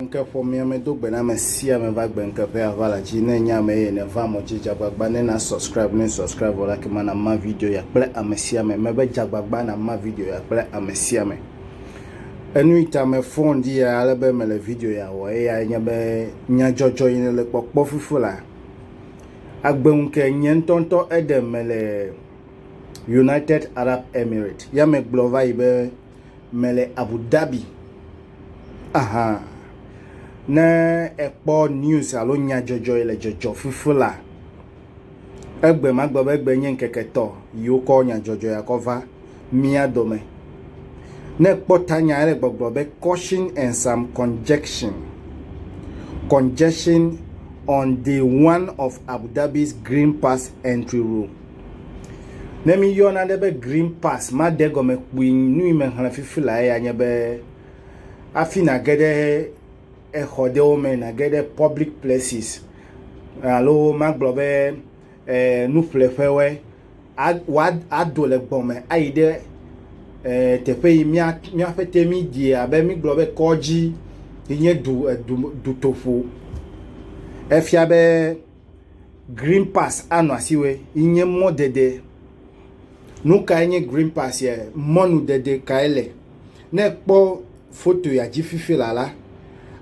Ŋke ƒɔ mia me do gbe na me sia me va gbe ŋke ƒe ava la dzi ne nye ame ye ne va mɔ dzi dzagbagba ne na subscribe ne subscribe vɔ la ke ma na ma video ya kple ame sia me me be dzagbagba na ma video ya kple ame sia me enu yi ta me fɔn di ya ale be me le video ya wɔ eya nye be nya jɔjɔ yi ne le kpɔkpɔ fufu la agbe ŋke nye ŋtɔntɔ ede me le United Arab Emirates ya me gblɔ va yi be mele Abu Dhabi ahan. Ne èkpɔ news alo nyadzɔdzɔe le dzɔdzɔ fifi la, egbe magbe be egbe nye ŋkeke tɔ yi wokɔ nyadzɔdzɔe akɔ va mía dome. Ne èkpɔ tanya ele gbɔgblɔ be caution and some congestion. Congestion on day one of Abu Dhabi's Green Pass entry rule. Ne míyɔ nane be green pass made egɔme kpui nu yi mexlẽ fifi lae ya nye be hafi nage ɖe exɔ ɖewo me nage ɖe pɔblik plɛsis alo magblɔ be e nuƒleƒewɔe a wa ado le gbɔ me ayi ɖe e teƒe yi mía míaƒe te mídi abe mígblɔ be kɔdzi yi nye du edu dutoƒo efia be. Green pass anɔ asi wɛ yi nye mɔdede. Nu kae nye green pass ya? Mɔnudede kae le? Ne ekpɔ foto ya dzi fifi la la,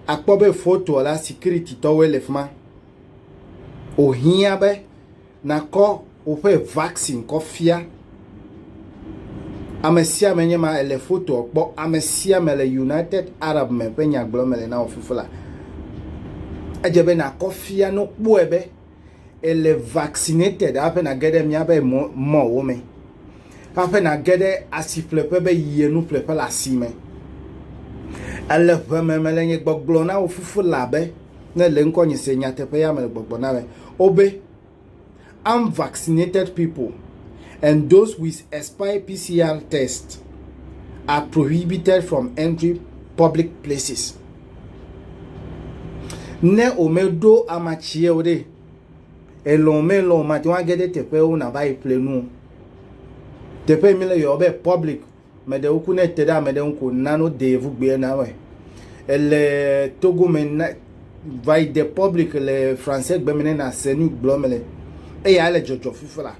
akpɔ be fotoa la securititɔwoe le fi ma. Wohiã be nakɔ woƒe vaccine kɔ fia. Ame sia ame nye ma ele fotoa kpɔ. Ame sia ame le United Arab me ƒe nyagblɔ me le na wò fifla. Edze be nakɔ fia no kpɔe be ele vaccinated hafi nage ɖe míaƒe mɔwo me. Hafi nage ɖe asiƒleƒe be yi enu ƒleƒe le asi me. Ele ʋe me mele nye gbɔgblɔ na wò fifla be ne le ŋkɔ nye se nyateƒe ya mele gbɔgblɔ na me. Wobe Unvaccinated people and those with expired PCR tests are prohibited from entering public places. Ne womeɖo amatsie o ɖe, elɔ̃ melɔ̃ mate ŋu age ɖe teƒewo nava yi ƒle nu o. Teƒe mi le yɔ be public Meɖe woku ne ete ɖe ame ɖe ŋu ko na no de vu gbea na wɛ. Ele Togo me na va yi de public le français gbe me ne na se nu gblɔ me le. Eya le jɔjɔ fifi la.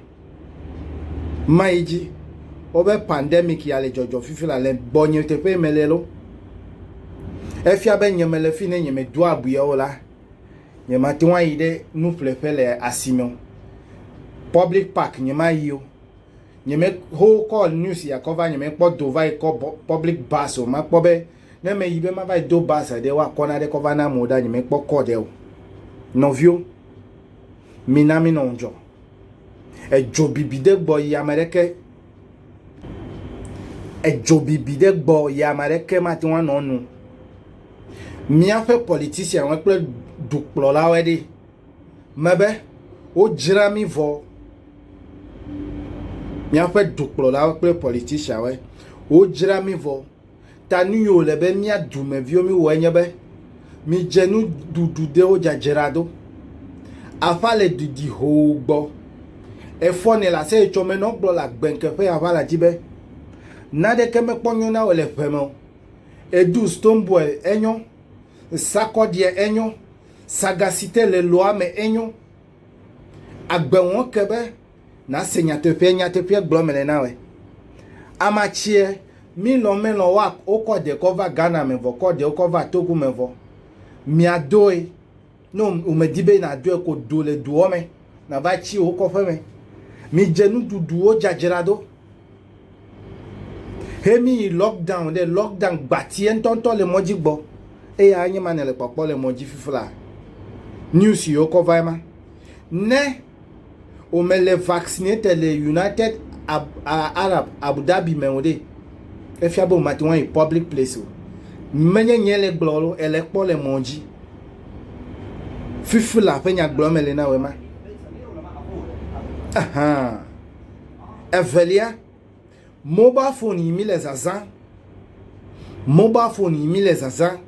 Ma yi ji. O be pandemic ya le jɔjɔ fifi la le gbɔ nye te pe me le lo. E fia be nye me le fi ne nye me do abu ya o la. Nye ma te wa yi de nu ple pe le asime. Public park nye ma yi o. nye me ho call news ya kɔ va nye me kpɔ do va yi kɔ public bus o ma kpɔ be ne me yi be ma va yi do bus ɖe wa kɔ na ɖe kɔ va na mo da nye me kpɔ call ɖe o nɔvio mi na mi nɔ ŋdzɔ edzo bibi de gbɔ yi ame ɖe ke edzo bibi de gbɔ yi ame ɖe ke ma te wa nɔ nu miaƒe politician wa kple dukplɔlawo ɖe me be, Wodzra mí vɔ. Míaƒe dukplɔlawo kple politicianwoe. Wodzra mí vɔ. Ta nu yi wòle be mía dumeviwo míwɔe nye be, midze nuɖuɖu ɖewo dzadzra ɖo. Aƒa le didi hoo gbɔ. Efɔ nɛ le aseyetsɔ me nɔ gblɔ le agbɛnke ƒe aʋa la dzi be, Naɖeke mekpɔ nyɔ na wò le ʋe me o. Èɖu stoneboy enyɔ, sakɔɖiɛ enyɔ, Saga si te le lɔa me enyo. Agbe wɔn ke be nase nyateƒea nyateƒea gblɔ mele na we. Amatsie milɔ melɔ wa wokɔ de kɔ va Ghana me vɔ kɔ de wokɔ va Togo me vɔ. Mia doe no umedi be na doe ko do le doɔ me. nava tsi wò kɔƒe me. Midze nuɖuɖuwo dzadzra do. He mi yi lockdown ɖe lockdown gbatie ŋutɔŋutɔ le mɔdzi gbɔ. Eya anye ma nele kpɔkpɔ le mɔdzi fifla. News yiwo kɔ va ma. Ne wòmele vaccinated le United Arab Abu Dhabi me o ɖe, efia be wòmate ŋu ayi public place o. Menye nye le gblɔ lo, ele kpɔ le mɔdzi. Fifila ƒe nyagblɔ me li na wema. Ahan. Evelia, mobile phone yi mi le zazã. Mobile phone yi mi le zazã.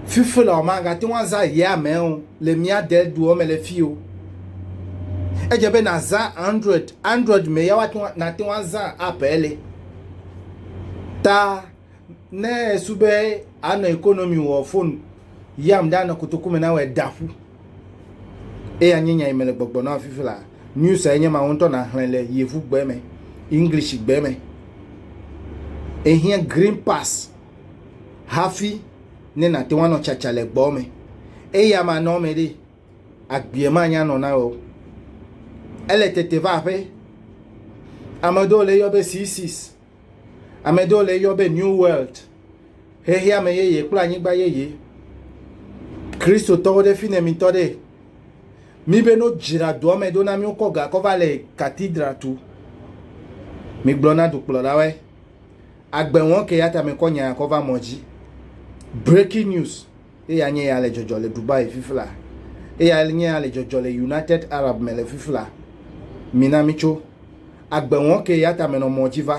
Fifila ma gate ŋu azã ya me o le mia de duo me le fi o. Edze be nazã Android. Android me ya wate ŋu nate ŋu azã app ele. Ta ne esu be anɔ economy wɔ phone yam ɖe anɔ kotoku me na wɔ da ƒu eye anye nya yi me le gbɔgbɔ na fifi la news enye ma wo ŋutɔ na xlẽ le yevu gbe me english gbe me ehiã green pass hafi ne nate ŋu anɔ tsatsa le gbɔ me eye ama nɔ me ɖi agbie ma nya nɔ na wɔ ele tete va ƒe ame ɖewo le yɔ be c6 Ame ɖewo le eyɔ be New World, xexeame yeye kple anyigba yeye. Kristotɔwo ɖe fi ne mitɔ ɖe. Mi be no dzra doa me ɖo na mi wokɔ ga kɔ va le katidra tu. Mi gblɔ na dukplɔlawe. Agbe wɔn ke ya ta me kɔ nya kɔ va mɔ dzi. Breaking news. Eya nye ya le dzɔdzɔ le Dubai fifla. Eya nye ya le dzɔdzɔ le United Arab me le fifla. Mina mitso. Agbe wɔn ke ya tame nɔ mɔ dzi va.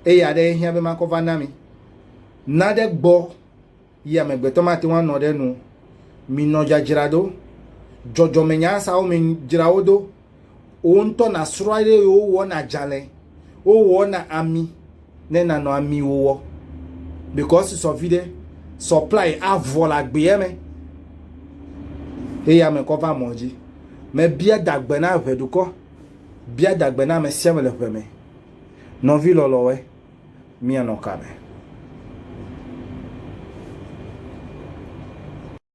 Eya ɖe ehiã be makɔ va na mi. Na ɖe gbɔ yi amegbetɔ mate ŋu anɔ ɖe nu. Minɔ dzadzraɖo. Dzɔdzɔmenyaasawo me dzra wo do. wò ŋutɔ nàsrɔ̃ eye wowɔ nadzalɛ, wowɔ na ami ne nanɔ ami wowɔ because sɔ vi ɖe supply avɔ le agbeɛ me eye ame kɔ va mɔ dzi. Mebia dagbe na ʋe dukɔ, bia dagbe na ame sia ame le ʋe me. Nɔvi lɔlɔ̃we, míanɔ ka me?